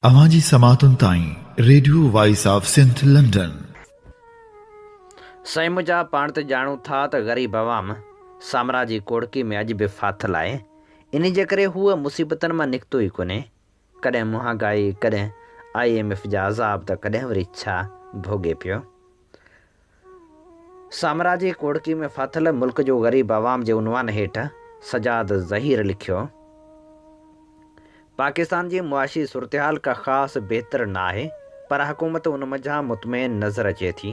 اوهان جي سماعتن تائين radio voice of Sindh London. سائين منهنجا پاڻ ته ڄاڻون ٿا ته غريب عوام سامراء جي ڪوڙڪي ۾ اڄ به ڦاٿل آهي انهي جي ڪري هوء مصيبتن مان نڪتو ئي ڪونهي ڪڏهن مهانگائي ڪڏهن آئي ايم ايف جا عذاب ته ڪڏهن وري ڇا ڀوڳي پيو. سامراجي کوڙڪي ۾ ڦاٿل ملڪ جو غريب عوام جي عنوان هيٺ سجاد ظهير لکيو، پاڪستان جي معاشي صورتحال ڪا خاص بهتر نه آهي پر حڪومت ان منجهان مطمئن نظر اچي ٿي.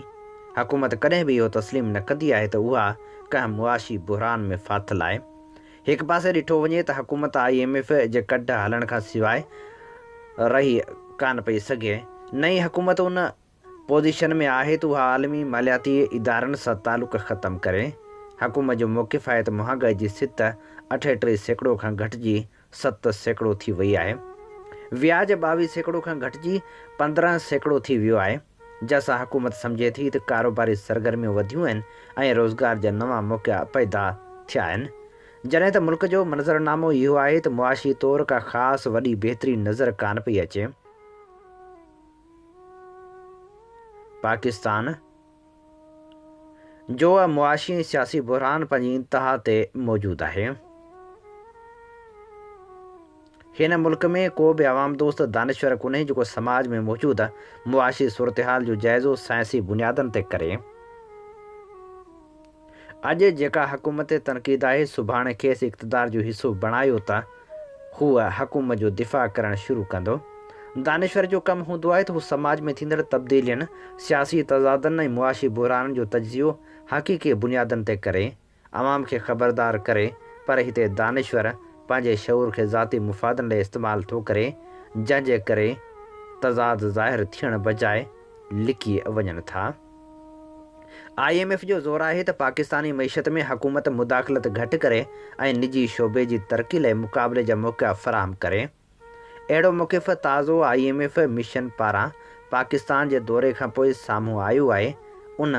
حڪومت ڪڏهن به اهو تسليم نه ڪندي آهي ته اها ڪنهن معاشي بحران ۾ ڦاٿل آهي. هڪ پاسي ڏٺو وڃي ته حڪومت آء ايم ايف جي ڪڍ هلڻ کان سواء رهي ڪانه پئي سگهي نه ئي حڪومت ان پوزيشن ۾ آهي ته اها عالمي مالياتي ادارن سان تعلق ختم ڪري، حڪومت جو موقف آهي ته مهانگائي جي سطح اٺ ٽي سيڪڙو کان گهٽجي ست سيڪڙو ٿي وئي آهي، وياج ٻاويهه سيڪڙو کان گهٽجي پندرهن سيڪڙو ٿي ويو آهي، جنهن سان حڪومت سمجهي ٿي ته ڪاروباري سرگرميون وڌيون آهن ۽ روزگار جا نوان موقعا پيدا ٿيا آهن، جڏهن ته ملڪ جو منظرنامو اهو آهي ته معاشي طور ڪا خاص وڏي بهتري نظر ڪانه پئي اچي. پاڪستان جو معاشي ۽ سياسي بحران پنهنجي انتها تي موجود آهي. هن ملڪ ۾ ڪو به عوام دوست دانشور ڪونهي جيڪو سماج ۾ موجود معاشي صورتحال جو جائزو سائنسي بنيادن تي ڪري. اڄ جيڪا حڪومت تي تنقيد آهي سڀاڻي کيس اقتدار جو حصو بڻايو ته هو حڪومت جو دفاع ڪرڻ شروع ڪندو. دانشور جو ڪم هوندو آهي ته هو سماج ۾ ٿيندڙ تبديلين، سياسي تضادن ۽ معاشي بحرانن جو تجزيو حقيقي بنيادن تي ڪري، عوام کي خبردار ڪري پر هتي دانشور پنهنجي شعور کي ذاتي مفادن لاء استعمال ٿو ڪري جنهن جي ڪري تضاد ظاهر ٿيڻ بجاء لڪي وڃن ٿا. آء ايم ايف جو زور آهي ته پاڪستاني معيشت ۾ حڪومت مداخلت گهٽ ڪري ۽ نجي شعبي جي ترقي لاء مقابلي جا موقعا فراهم ڪري. اهڙو موقف تازو آء ايم ايف مشن پاران پاڪستان جي دوري کانپوء سامهون آيو آهي. ان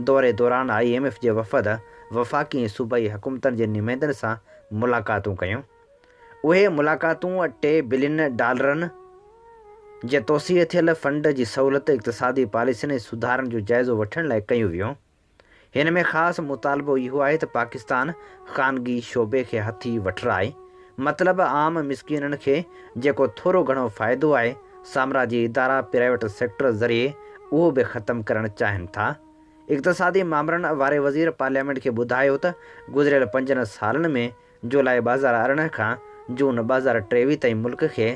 دوري دوران آء ايم ايف جي وفد وفاقي ۽ صوبائي حڪومتن جي نمائندن سان ملاقاتون ڪيون. اهي ملاقاتون ٽي بلين ڊالرن جي توسيع ٿيل فنڊ جي سهولت، اقتصادي پاليسين ۽ سڌارن جو جائزو وٺڻ لاء ڪيون ويون. هن ۾ خاص مطالبو اهو آهي ته پاڪستان خانگي شعبي کي هٿي وٺرائي، مطلب عام مسڪينن کي جيڪو ٿورو گهڻو فائدو آهي، سامراجي ادارا پرائيويٽ سيڪٽر ذريعي اهو به ختم ڪرڻ چاهين ٿا. اقتصادي مامرن واري وزير پارليامينٽ کي ٻڌايو ته گذريل پنجن سالن ۾ جولاء ٻهزار ارڙهن کان جون ٻهزار ٽيويهه تائين ملڪ کي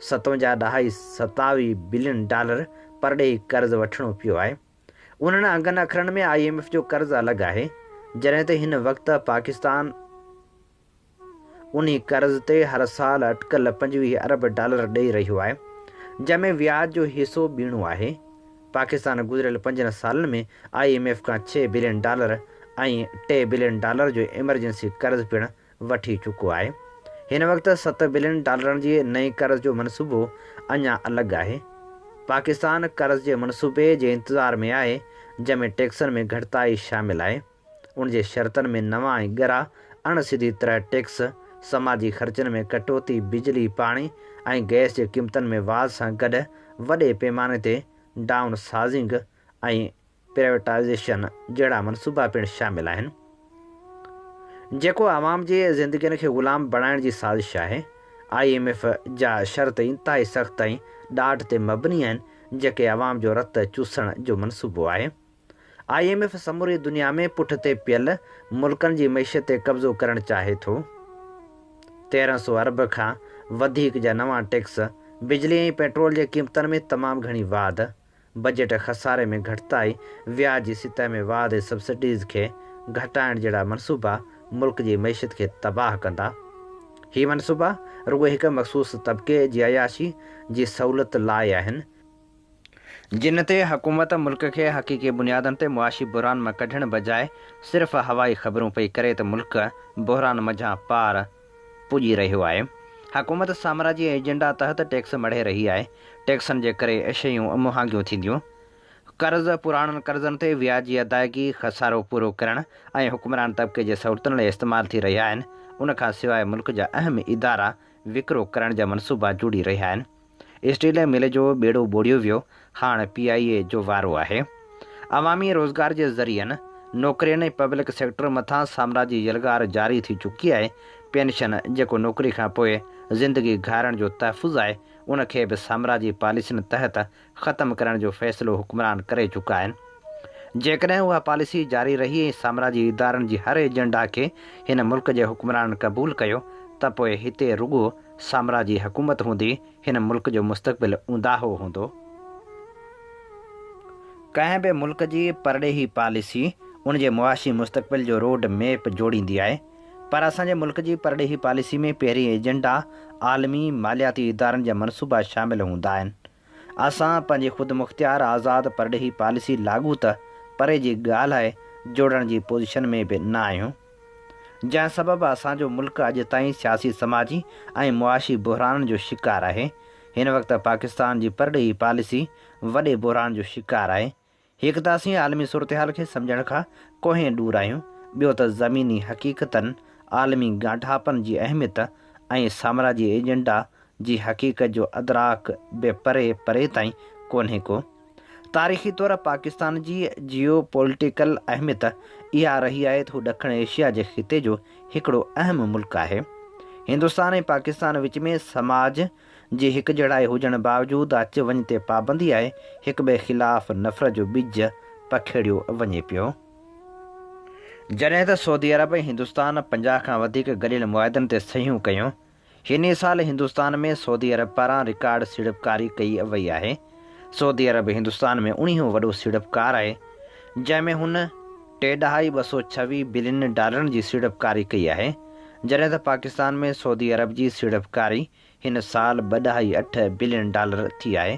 ستونجاهه ڏهائي ستاوي بلين ڊالر پرڏيهي قرض وٺڻو پيو آهي. انهن انگن اکرن ۾ آء ايم ايف جو قرض الڳ آهي جڏهن ته هن وقت پاڪستان انهي قرض تي هر سال اٽڪل پنجويهه ارب ڊالر ڏئي رهيو آهي جنهن ۾ وياج جو حصو ٻيڻو آهي. پاڪستان گذريل پنجن سالن ۾ آء ايم ايف کان ڇهه بلين ڊالر ۽ ٽي بلين ڊالر جو ايمرجنسي قرض پڻ وٺي چڪو آهي. هن وقت ست بلين ڊالرن جي نئين قرض جو منصوبو اڃا الڳ آهي. پاڪستان قرض جي منصوبي جي انتظار ۾ آهي، جنهن ۾ ٽيڪسن ۾ گهٽتائي شامل آهي. ان جي شرطن ۾ نوان ۽ ڳرا، اڻ سڌي طرح ٽيڪس، سماجي خرچن ۾ ڪٽوتي، بجلي، پاڻي ۽ گئس جي قيمتن ۾ واڌ سان گڏ وڏي پيماني تي ڊائون سازنگ ۽ پرائيوٽائيزيشن جهڙا منصوبا پڻ شامل آهن، جيڪو عوام جي زندگين کي غلام بڻائڻ جي سازش آهي. آء ايم ايف جا شرط انتهائي سخت ۽ ڏاڍ تي مبني آهن، جيڪي عوام جو رت چوسڻ جو منصوبو آهي. آء ايم ايف سموري دنيا ۾ پٺتي پيل ملڪن جي معيشت تي قبضو ڪرڻ چاهي ٿو، تيرهن سؤ ارب کان وڌيڪ جا نوان ٽيڪس، بجلي ۽ پيٽرول جي قيمتن ۾ تمام گهڻي واڌ، بجيٽ خساري ۾ گهٽتائي، وياج جي سطح ۾ واڌ ۽ سبسڊيز کي گهٽائڻ جهڙا منصوبا ملڪ جي معيشت کي تباهه ڪندا. هي منصوبا رڳو هڪ مخصوص طبقي جي عياشي جي سهولت لاء آهن. جنھن تي حڪومت ملڪ کي حقيقي بنيادن تي معاشي بحران مان ڪڍڻ بجاء صرف ھوائي خبرون پئي ڪري ته ملڪ بحران منجھان پار پڄي رھيو آھي. حڪومت سامراجي ايجنڊا تحت ٽيڪس مڙھي رھي آھي. ٽيڪسن جي ڪري شيون مھانگيون ٿينديون. قرض، پراڻن قرضن تي وياجي ادائگي، خسارو پورو ڪرڻ ۽ حڪمران طبقي جي سھولتن لاء استعمال ٿي رھيا آھن. ان کان سواء ملڪ جا اھم ادارا وڪرو ڪرڻ جا منصوبا جوڙي رھيا آھن. اسٽيل مل جو ٻيڙو ٻوڙيو ويو، هاڻ پي آء اي جو وارو آهي. عوامي روزگار جي ذريعن، نوڪرين ۽ پبلڪ سيڪٽر مٿان سامراجي يلغار جاري ٿي چڪي آهي، پينشن جيڪو نوڪري کان پوء زندگي گهارڻ جو تحفظ آهي، ان کي به سامراجي پاليسين تحت ختم ڪرڻ جو فيصلو حڪمران ڪري چڪا آهن. جيڪڏهن اها پاليسي جاري رهي ۽ سامراجي ادارن جي هر ايجنڊا کي هن ملڪ جي حڪمرانن قبول ڪيو ته پوء هتي رڳو سامراجي حڪومت هوندي هن ملڪ جو مستقبل اونداهو هوندو. ڪنهن به ملڪ جي پرڏيهي پاليسي ان جي معاشي مستقبل جو روڊ ميپ جوڙيندي آهي پر اسان جي ملڪ جي پرڏيهي پاليسي ۾ پهرين ايجنڊا عالمي مالياتي ادارن جا منصوبا شامل هوندا آهن. اسان پنهنجي خودمختيار آزاد پرڏيهي پاليسي لاڳو ته پري جي ڳالهه آهي جوڙڻ جي پوزيشن ۾ به نه آهيون جنهن سبب اسان جو ملڪ اڄ تائين سياسي سماجي ۽ معاشي بحرانن جو شڪار آهي هن وقت پاڪستان جي پرڏيهي پاليسي وڏي بحران جو شڪار آهي هڪ ته اسين عالمي صورتحال کي سمجهڻ کان ڪوهين ڏور آهيون، ٻيو ته زميني حقيقتن، عالمي ڳانڍاپن جي اهميت ۽ سامراجي ايجنڊا جي حقيقت جو ادراڪ به پري پري تائين ڪونهي ڪو. تاريخي طور پاڪستان جي جيو پوليٽيڪل اهميت اها رهي آهي ته هو ڏکڻ ايشيا جي خطي جو هڪڙو اهم ملڪ آهي. هندستان ۽ پاڪستان وچ ۾ سماج، جي هڪجهڙائي هجڻ باوجود اچ وڃ تي پابندي آهي، هڪٻئي خلاف نفرت جو ٻج پکيڙيو وڃي پيو. جڏهن ته سعودي عرب ۽ هندستان پنجاهه کان وڌيڪ گڏيل معاهدن تي صحيحون ڪيون. هن ئي سال هندستان ۾ سعودي عرب پاران رڪارڊ سيڙپڪاري ڪئي وئي آهي. سعودي عرب هندستان ۾ اڻيهون وڏو سيڙپڪار آهي، جنهن ۾ هن ٽي ڏهائي ٻه سؤ ڇويهه بلين ڊالرن جي سيڙپڪاري ڪئي آهي، جڏهن ته پاڪستان ۾ سعودي عرب جي سيڙپڪاري هن سال ٻه ڏهائي اٺ بلين ڊالر ٿي آهي.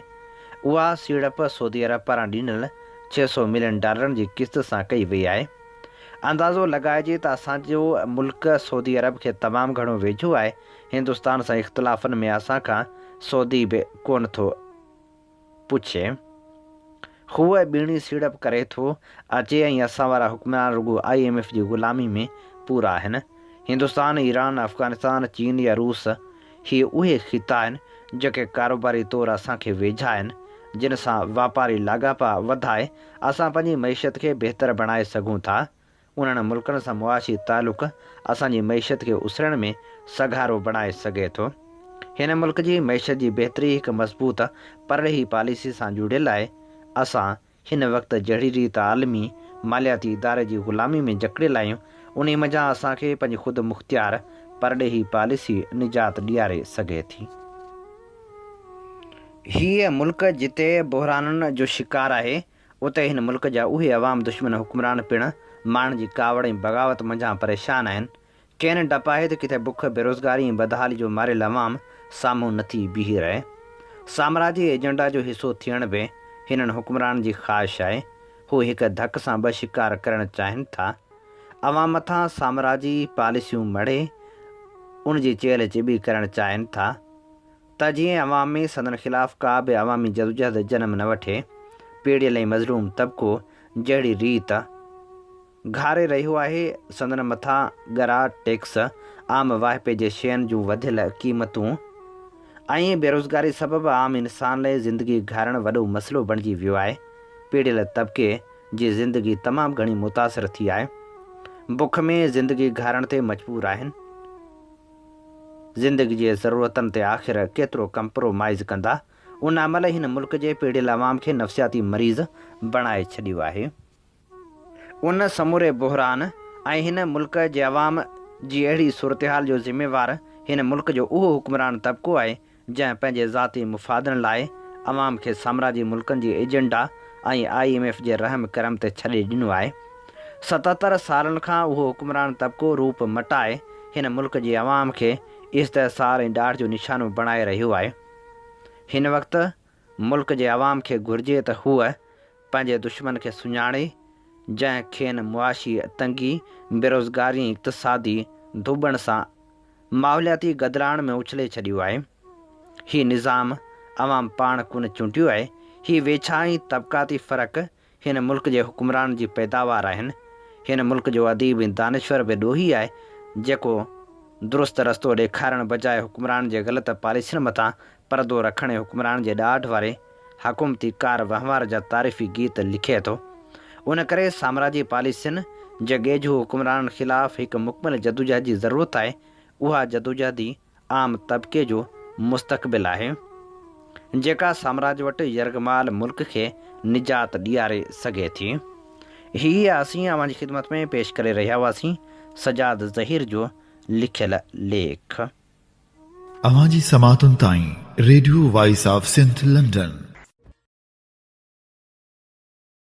اها سيڙپ سعودي عرب پاران ڏنل ڇهه سؤ ملين ڊالرن جي قسط سان ڪئي وئي آهي. اندازو لڳائجي ته اسان جو ملڪ سعودي عرب کي تمام گهڻو ويجهو آهي، هندستان سان اختلافن ۾ اسان کان سودي به ڪونه ٿو پڇي. هو ٻيڻي سيڙپ ڪري ٿو اچي ۽ اسان وارا حڪمران رڳو آء ايم ايف جي غلامي ۾ پورا آهن. هندستان، ايران، افغانستان، چين يا روس هي اهي خطا آهن جيڪي ڪاروباري طور اسان کي ويجها آهن، جن سان واپاري لاڳاپا وڌائي اسان پنهنجي معيشت کي بهتر بڻائي سگهون ٿا. انهن ملڪن سان معاشي تعلق اسان جي معيشت کي اسرڻ ۾ سگهارو بڻائي سگهي ٿو. هن ملڪ جي معيشت جي بهتري هڪ مضبوط پرڏيهي پاليسي سان جڙيل آهي. اسان هن وقت جهڙي ريت عالمي مالياتي اداري جي غلامي ۾ جڪڙيل آهيون، انهي منجهان اسان کي پنهنجي خود مختيار پرڏيهي پاليسي نجات ڏياري سگهي ٿي. هيء ملڪ جتي بحرانن جو شڪار آهي، اتي هن ملڪ جا اهي عوام دشمن حڪمران پڻ ماڻهن جي ڪاوڙ ۽ بغاوت منجهان پريشان آهن. کين ڊپ آهي ته ڪٿي بک، بيروزگاري ۽ بدحالي جو ماريل عوام سامهون نه ٿي بيهي رهي. سامراجي ايجنڊا جو حصو ٿيڻ به هنن حڪمرانن جي خواهش آهي. هو هڪ ڌڪ سان ٻه شڪار ڪرڻ چاهين ٿا. عوام مٿان سامراجي پاليسيون مڙهي ان جي چيلهه چٻي ڪرڻ چاهين ٿا. ته جيئن عوام ۾ سندن خلاف ڪا به عوامي جدوجهد جنم نه وٺي. پيڙهيل ۽ مظلوم طبقو جهڙي ريت گهاري رهيو آهي، سندن مٿان ڳرا ٽيڪس، عام واهپي جي شين جون وڌيل قيمتون ۽ بيروزگاري سبب عام انسان لاء زندگي گهارڻ وڏو مسئلو بڻجي ويو آهي. پيڙهيل طبقي جي زندگي تمام گهڻي متاثر ٿي آهي. بک ۾ زندگي گهارڻ تي مجبور آهن. زندگي جي ضرورتن تي آخر ڪيترو ڪمپرو مائز ڪندا؟ ان عمل هن ملڪ جي پيڙهيل عوام کي نفسياتي مريض بڻائي ڇڏيو آهي. ان سموري بحران ۽ هن ملڪ جي عوام جي اهڙي صورتحال جو ذميوار هن ملڪ جو اهو حڪمران طبقو آهي جنهن پنهنجي ذاتي مفادن لاء عوام کي سامراجي ملڪن جي ايجنڊا ۽ آء ايم ايف جي رحم ڪرم تي ڇڏي ڏنو آهي. ستهتر سالن کان اهو حڪمران طبقو روپ مٽائي هن ملڪ جي عوام کي استحصال ۽ ڏاڍ جو نشانو بڻائي رهيو آهي. هن وقت. ملڪ جي عوام کي گهرجي ته هوء پنهنجي دشمن کي سڃاڻي، جنهن کين معاشي تنگي، بيروزگاري ۽ اقتصادي ڌوٻڻ سان ماحولياتي گدلاڻ ۾ اڇلي ڇڏيو آهي. هي نظام عوام پاڻ ڪونه چونڊيو آهي، هي ويڇا ۽ طبقاتي فرق هن ملڪ جي حڪمران جي پيداوار آهن. هن ملڪ جو اديب ۽ دانشور به ڏوهي آهي، جيڪو درست رستو ڏيکارڻ بجاء حڪمران جي غلط پاليسين مٿان پردو رکڻ ۽ حڪمران جي ڏاڍ واري حڪومتي ڪار وهنوار جا تعريفي گيت لکي ٿو. ان ڪري سامراجي پاليسين جي ڳيجهو حڪمرانن خلاف هڪ مڪمل جدوجهد جي ضرورت آهي. اها جدوجهد ئي عام طبقي جو مستقبل آهي، جيڪا سامراج وٽ يرغمال ملڪ کي نجات ڏياري سگهي ٿي. هيء اسين اوهان جي خدمت ۾ پيش ڪري رهيا هئاسين سجاد ظهير جو لکيل ليک. اوهان جي سماعتن تائين radio voice of Sindh London.